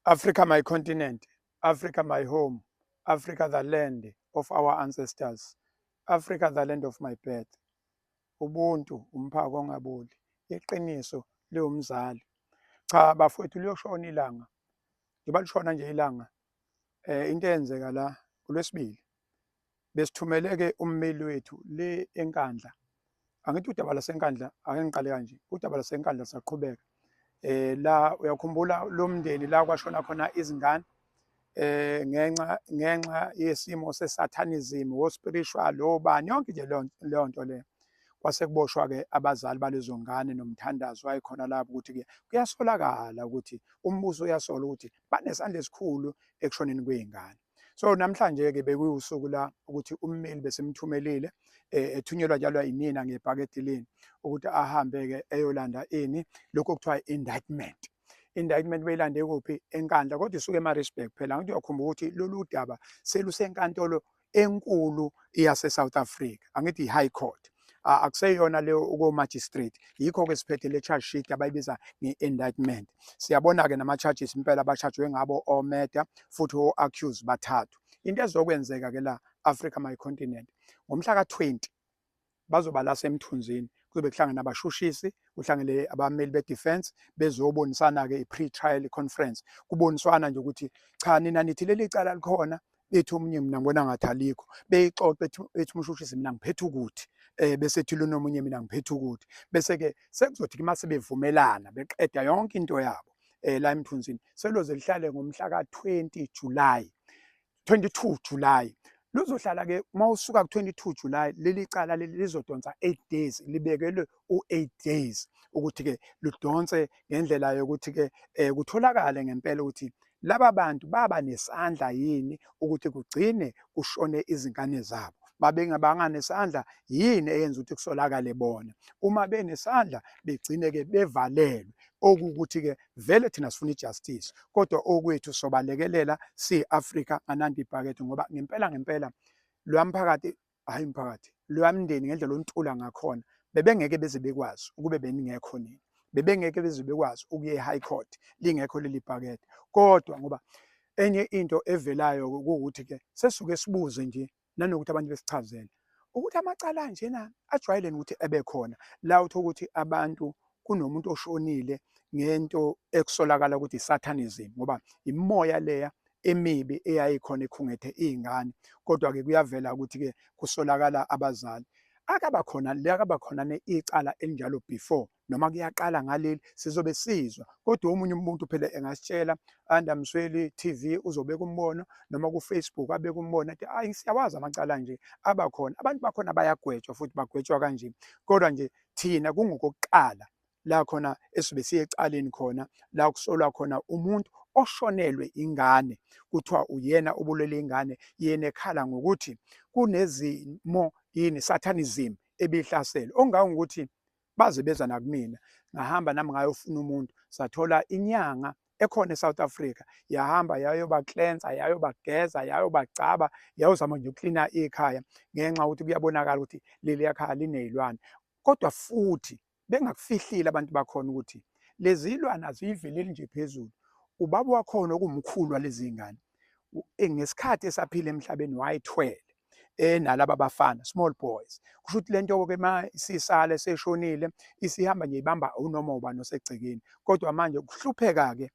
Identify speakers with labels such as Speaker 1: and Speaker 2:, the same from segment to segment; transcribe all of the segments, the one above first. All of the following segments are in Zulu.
Speaker 1: Africa my continent, Africa my home, Africa the land of our ancestors, Africa the land of my birth. Ubuntu umphako ongaboli, iqiniso liwumzali. Cha bafowethu liyoshona ilanga, njengoba lishona nje ilanga Eh into eyenzeka la kulwesibili besithumele ke ummeli wethu le enkandla angithi udaba lasenkandla ake ngiqale kanje udaba lasenkandla saqhubeka eh la uyakhumbula lo mndeni la kwashona khona izingane eh ngenxa ngenxa yesimo sesathanism wo spiritual lo bani yonke nje leyo nto le kwase kuboshwa ke abazali balezo ngane nomthandazo wayekhona lapho ukuthi ke kuyasolakala ukuthi umbuso uyasola ukuthi banesandla esikhulu ekushoneni kwey'ngane so namhlanje-ke bekuwusuku la ukuthi ummeli besimthumelile eh, ethunyelwa njalo yinina ngebhakedilini ukuthi ahambe-ke eyolanda ini lokhu okuthiwa i-indictment indictment beyilande kuphi enkandla kodwa isuke emarisburg phela ngithi uyakhumbula ukuthi lolu daba selusenkantolo enkulu yase South Africa angithi i High Court akuseyona leyo uko magistrate yikho ke siphethe le charge sheet abayibiza nge indictment siyabona ke nama charges impela abashajwe ngabo o murder futhi o accuse bathathu into ezokwenzeka ke la Africa my continent ngomhla ka 20 bazoba la semthunzini kuzobe kuhlangana abashushisi kuhlangele abameli be-defense bezobonisana-ke i-pre-trial conference kuboniswana nje ukuthi cha nina nithi leli cala likhona bethi omunye mina ngibona ngathi alikho beyixoxe ethi umshushisi mina ngiphethe ukuthi eh bese ethi lona omunye mina ngiphethe ukuthi bese-ke sekuzothi uma sebevumelana beqeda yonke into yabo um la emthunzini seloze lihlale ngomhla ka-20 julayi 22 July luzohlala ke uma usuka ku-22 July leli cala leli lizodonsa 8 days libekelwe u-8 days ukuthi-ke ludonse ngendlela yokuthi-ke um kutholakale ngempela ukuthi laba bantu baba nesandla yini ukuthi kugcine kushone izingane zabo babengabanga nesandla yini eyenza ukuthi kusolakale bona uma benesandla begcine-ke bevalelwe okuwukuthi-ke Vele thina sifuna ijustice kodwa okwethu sobalekelela si Africa anandi ibhakede ngoba ngempela ngempela lwamphakathi hayi mphakathi lwamndeni ngendlela ontula ngakhona bebengeke beze bekwazi ukube beningekho nini bebengeke beze bekwazi ukuye e-high court lingekho leli bhakede kodwa ngoba enye into evelayo ukuthi-ke sesuke sibuze nje nanokuthi abantu besichazele ukuthi amacala anjena ajwayeleni ukuthi ebe khona la uthola ukuthi abantu kunomuntu oshonile ngento ekusolakala ukuthi isathanism ngoba imoya leya emibi eyayikhona ikhungethe izingane kodwa ke kuyavela ukuthi ke kusolakala abazali akaba khona liyakaba khona icala elinjalo before noma kuyaqala ngaleli sizobe sizwa kodwa omunye umuntu phela engasitshela anda msweli TV uzobeka umbono noma ku Facebook abeka umbono athi ayi siyawazi amacala nje abakhona abantu bakhona bayagwetshwa futhi bagwetshwa kanje kodwa nje thina kungokokuqala la khona esibe siyecaleni khona la kusolwa khona umuntu oshonelwe ingane kuthiwa uyena obulele ingane yena ekhala ngokuthi kunezimo yini satanism ebihlasele ongangokuthi baze beza nakumina ngahamba nami ngayofuna umuntu sathola inyanga ekhona eSouth Africa yahamba yayobaklensa yayobageza yayobagcaba yayozama nje uklina ikhaya ngenxa ukuthi kuyabonakala ukuthi leli yakhaya linezilwane kodwa futhi bengakufihlile abantu bakhona ukuthi lezi zilwane aziyiveleli nje phezulu ubaba wakhona okumkhulu walezi ngane eh, ngesikhathi esaphila emhlabeni wayethwele enalaba bafana small boys kusho ukuthi lento ke ma isisale seshonile isihamba nje ibamba unoma ubani osegcekeni kodwa manje ukuhlupheka ke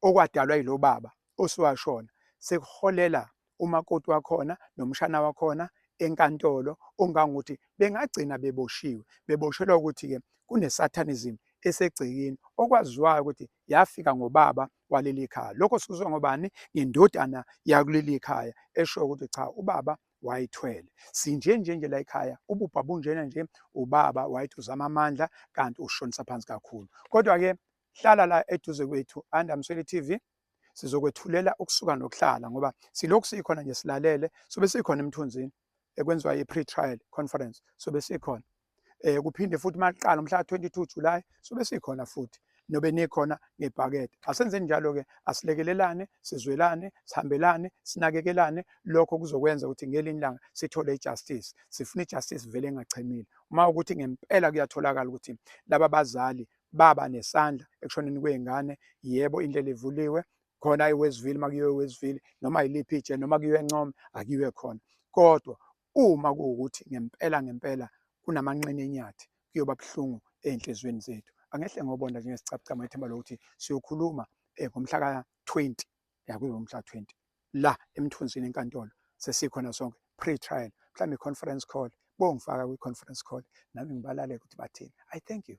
Speaker 1: okwadalwa yilo baba osuwashona sekuholela umakoti wakhona nomshana wakhona enkantolo ongangokuthi bengagcina beboshiwe beboshelwa ukuthi-ke kunesatanism esegcekeni okwaziwayo ukuthi yafika ngobaba waleli khaya lokho sikuzwa ngobani ngendodana yakuleli khaya esho ukuthi cha ubaba wayithwele sinje nje nje la ekhaya ububha bunjena nje ubaba wayithi uzama amandla kanti ushonisa phansi kakhulu kodwa ke hlala la eduze kwethu andamsweli TV sizokwethulela ukusuka nokuhlala ngoba silokhu sikhona nje silalele sobe sikhona emthunzini ekwenziwa i-pre-trial conference sobe sikhona eh kuphinde futhi maqala umhla 22 July sobe sikhona futhi nobe nikhona ngebhakede asenze njalo ke asilekelelane sizwelane sihambelane sinakekelane lokho kuzokwenza ukuthi ngelinye ilanga sithole ijustice sifuna ijustice vele engachemile uma ukuthi ngempela kuyatholakala ukuthi laba bazali baba nesandla ekushoneni kwezingane yebo indlela evuliwe khona iwestville uma kuyiwe iwestville noma yiliphi itshe noma kuyiwe encome akuyiwe khona kodwa uma kuwukuthi ngempela ngempela kunamanxene enyathi kuyoba buhlungu ey'nhliziyweni zethu angehle ngobonda njengesicabucama ithemba lokuthi siyokhuluma um ngomhla ka-twenty yakuyiwe umhla twenty la emthunzini enkantolo sesikhona sonke pre-trial mhlawumbe i-conference call bongifaka kwi-conference call nami ngibalale ukuthi bathini i thank you